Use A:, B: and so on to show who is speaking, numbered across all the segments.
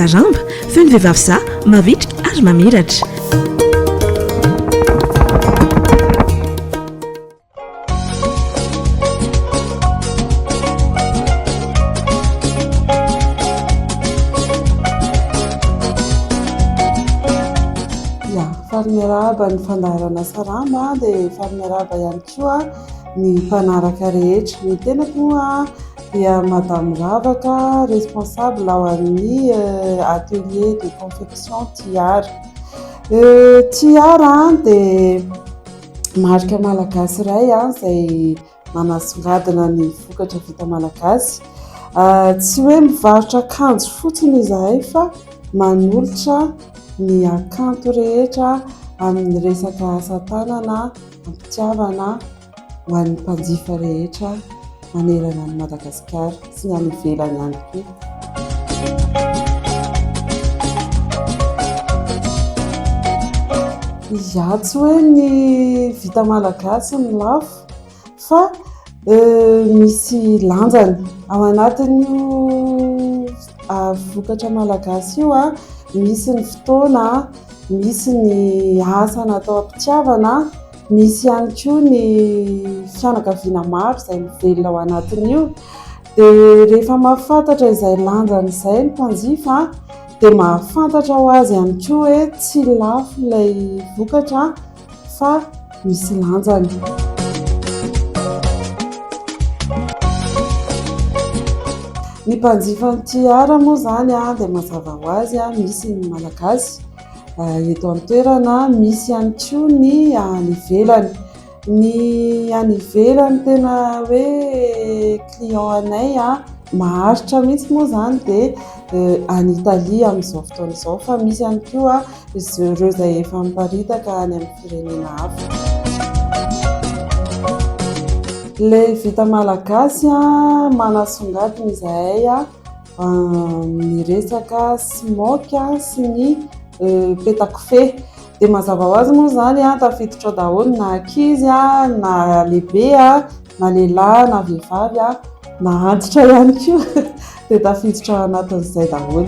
A: Saramba, feo ny vehivavy sahy, mavitrika ary mamiratra.
B: miarahaba ny fandaharana sarama dia efa miarahaba ihany koa ny mpanaraka rehetra ny tenako a dia Madame Ravaka, responsable ao amin'ny atelier de confection Tiara. Tiara dia marika malagasy iray izay manasongadina ny vokatra vita malagasy. Tsy hoe mivarotra akanjo fotsiny izahay fa manolotra ny hakanto rehetra amin'ny resaka asa tanana, am-pitiavana. ho an'ny mpanjifa rehetra manerana an'i Madagasikara sy ny any ivelany ihany koa. Izaho tsy hoe ny vita malagasy no lafo fa misy lanjany. Ao anatin'io vokatra malagasy io misy ny fotoana, misy ny asa natao am-pitiavana. Misy ihany koa ny fianakaviana maro izay mivelona ao anatin'io dia rehefa mahafantatra izay lanjany izay ny mpanjifa dia mahafantatra ho azy ihany koa hoe tsy lafo ilay vokatra fa misy lanjany. Ny mpanjifan'ny tiara moa izany dia mazava ho azy misy ny Malagasy. eto an-toerana, misy ihany koa ny any ivelany. Ny any ivelany tena hoe client anay maharitra mihitsy moa izany dia any Italia amin'izao fotoana izao fa misy ihany koa izy ireo izay efa miparitaka any amin'ny firenena hafa. Ilay vita malagasy manasongadina izahay. ny resaka smoke sy ny petakofehy dia mazava ho azy moa izany an tafiditra ao daholo na ankizy an na lehibe an na lehilahy na vehivavy an na antitra ihany koa dia tafiditra ao anatin'izay daholo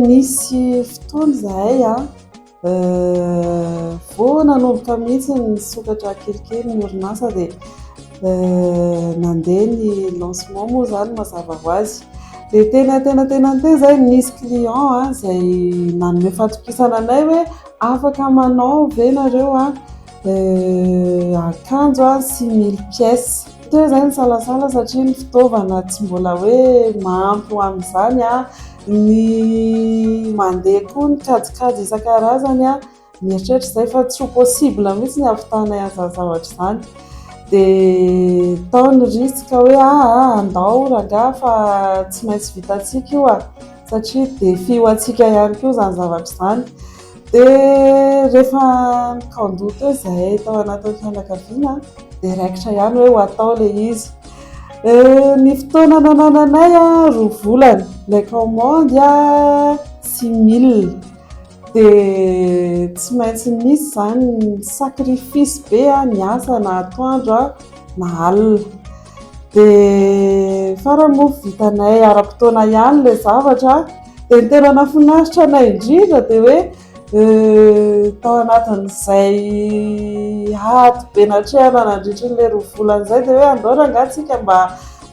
B: nisy fotoana izahay an Vao nanomboka mihitsy ny sokatra kelikely ny orinasa dia nandeha ny lancement moa izany mazava ho azy. Dia tena tena tena tena izay nisy client izay nanome fatokisana anay hoe afaka manao ve ianareo akanjo sy mille pièces. Toa izay ny salasala satria ny fitaovana tsy mbola hoe mahampy ho amin'izany, ny mandeha koa ny kajikajy isan-karazany, mieritreritra izay fa tsy ho possible mihitsy ny havitanay an'izany zavatra izany dia tao ny risque hoe aa andao rangaha fa tsy maintsy vitantsika io a! satria défi ho antsika ihany koa izany zavatra izany. Dia rehefa nikaon-doha teo izahay tao anatin'ny fianakaviana dia raikitra ihany hoe ho atao ilay izy. Ny fotoana nanananay roa volana ilay kaomandy sy mille dia tsy maintsy nisy izany ny sacrifice be niasa na atoandro na alina. Dia farany moa vitanay ara-potoana ihany ilay zavatra. Dia ny tena nahafinaritra anay indrindra dia hoe tao anatin'izay ady be natrehana nandritra an'ilay roa volana izay dia hoe andao rangahy isika mba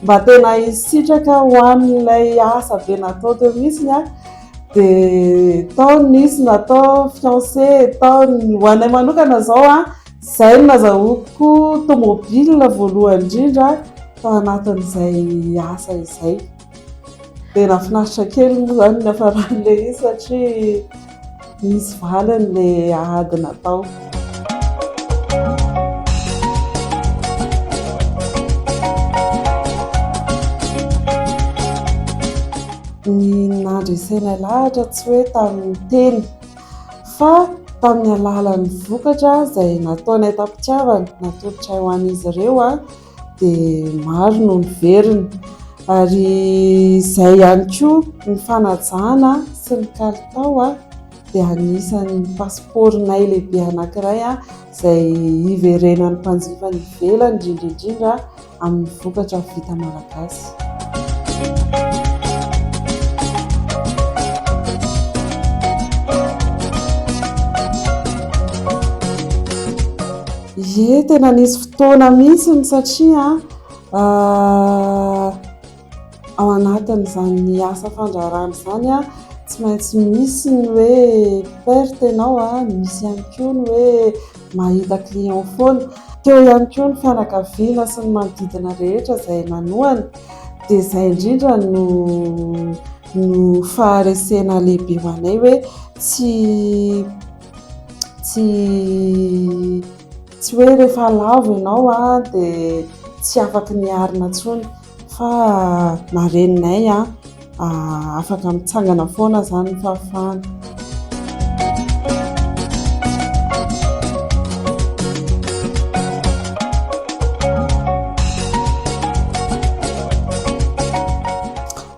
B: mba tena hisitraka ho an'ilay asa be natao teo mihitsiny an, dia tao nisy natao fiancé, tao ny ho anay manokana izao an, izay no nazahoako tomobile voalohany indrindra tao anatin'izay asa izay. Tena finaritra kely moa izany ny hafaran'ilay izy satria nisy valiny ilay ady natao. Ny nandresenay lahatra tsy hoe tamin'ny teny fa tamin'ny alalan'ny vokatra izay nataonay tam-pitiavana natolotray ho an'izy ireo. dia maro no niverina ary izay ihany koa ny fanajana sy ny kalitao a dia anisan'ny pasipaoronay lehibe anankiray a izay hiverenan'ny mpanjifa any ivelany indrindra indrindra amin'ny vokatra vita malagasy Ye, tena nisy fotoana mihitsy ny satria ao anatin'izany asa fandraharahana izany tsy maintsy misy ny hoe perte ianao, misy ihany koa ny hoe mahita client foana. Teo ihany koa ny fianakaviana sy ny manodidina rehetra izay nanohana dia izay indrindra no no faharesena lehibe ho anay hoe tsy tsy tsy hoe rehefa lavo ianao a dia tsy afaka ny arina intsony fa mareninay a afaka mitsangana foana izany ny fahafahana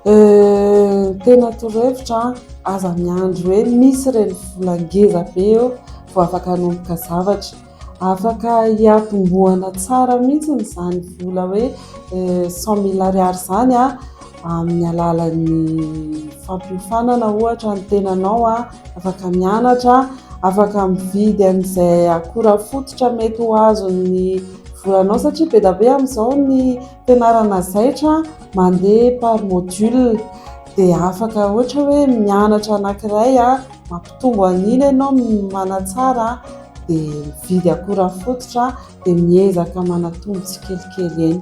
B: Euh, tena torohevitra an! Aza miandry hoe misy ireny vola ngeza be eo vao afaka hanomboka zavatra. Afaka hiatombohana tsara mihitsy izany vola hoe cent mille ariary izany an, amin'ny alalan'ny fampiofanana ohatra ny tenanao an, afaka mianatra, afaka mividy an'izay akora fototra mety ho azon'ny volanao satria be dia be amin'izao ny Fianarana zaitra mandeha par module dia afaka ohatra hoe mianatra anankiray mampitombo an'iny ianao manatsara dia mividy akora fototra dia miezaka manatombo tsikelikely eny.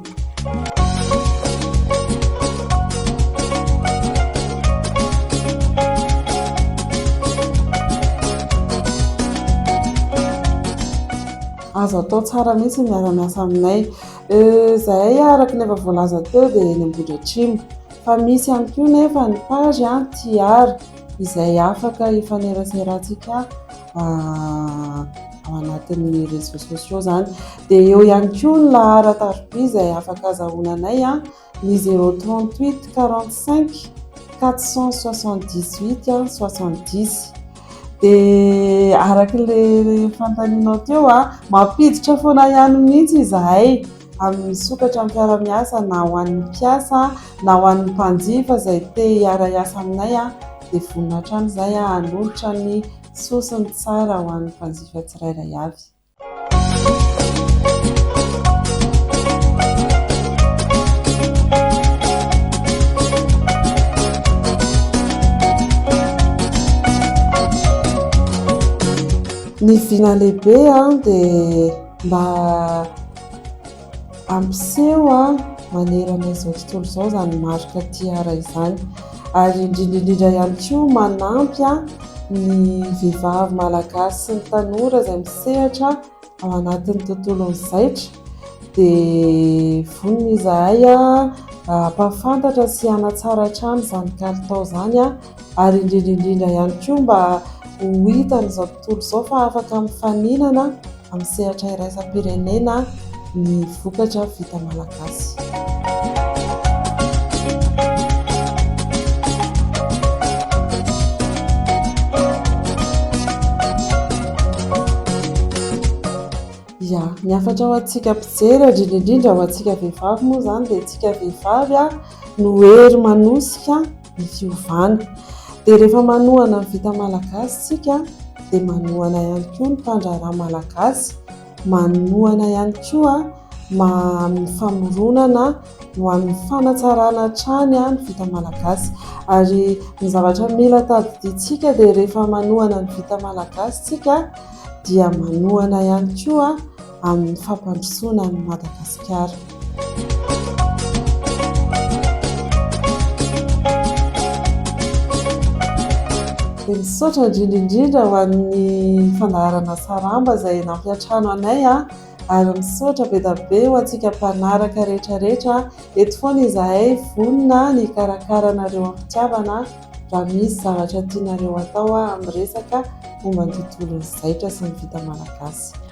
B: Azo atao tsara mihitsy ny miara-miasa aminay. Izahay araka ny efa voalaza teo dia eny Ambohidratrimo, fa misy ihany koa nefa ny page TR izay afaka hifaneraserantsika ao anatin'ny réseaux sociaux izany. Dia eo ihany koa ny laharan-tariby izay afaka azahoana anay. Ny 038 45 478 a 70 dia araka ilay fanontanianao teo a mampiditra foana ihany mihitsy izahay amin'ny sokatra amin'ny mpiara-miasa na ho an'ny mpiasa na ho an'ny mpanjifa izay te hiara-hiasa aminay a dia vonona hatrany izahay a hanolotra ny soa sy ny tsara ho an'ny mpanjifa tsirairay avy. ny vina lehibe a dia mba Ampiseho manerana izao tontolo izao izany marika Tiara izany ary indrindra indrindra ihany koa manampy ny vehivavy malagasy sy ny tanora izay misehatra ao anatin'ny tontolon'ny zaitra dia vonona izahay hampahafantatra sy hanatsara hatrany izany kalitao izany ary indrindra indrindra ihany koa mba ho hitan'izao Tontolo izao fa afaka mifaninana amin'ny sehatra iraisam-pirenena ny vokatra vita malagasy. Ya, ny hafatra ho antsika mpijery, indrindra indrindra ho antsika vehivavy moa izany dia isika vehivavy no hery manosika ny fiovana. Dia rehefa manohana ny vita malagasy isika dia manohana ihany koa ny mpandraharaha malagasy, manohana ihany koa ny famoronana ho an'ny fanatsarana hatrany ny vita malagasy. Ary ny zavatra mila tadidiantsika dia rehefa manohana ny vita malagasy isika dia manohana ihany koa... amin'ny fampandrosoana an'i Madagasikara. Dia misaotra indrindra indrindra ho an'ny fandaharana Saramba izay nampiantrano anay ary misaotra be dia be ho antsika mpanaraka rehetra rehetra. Eto foana izahay vonona ny hikarakara anareo am-pitiavana raha misy zavatra tianareo atao amin'ny resaka momba ny tontolon'ny zaitra sy ny vita malagasy.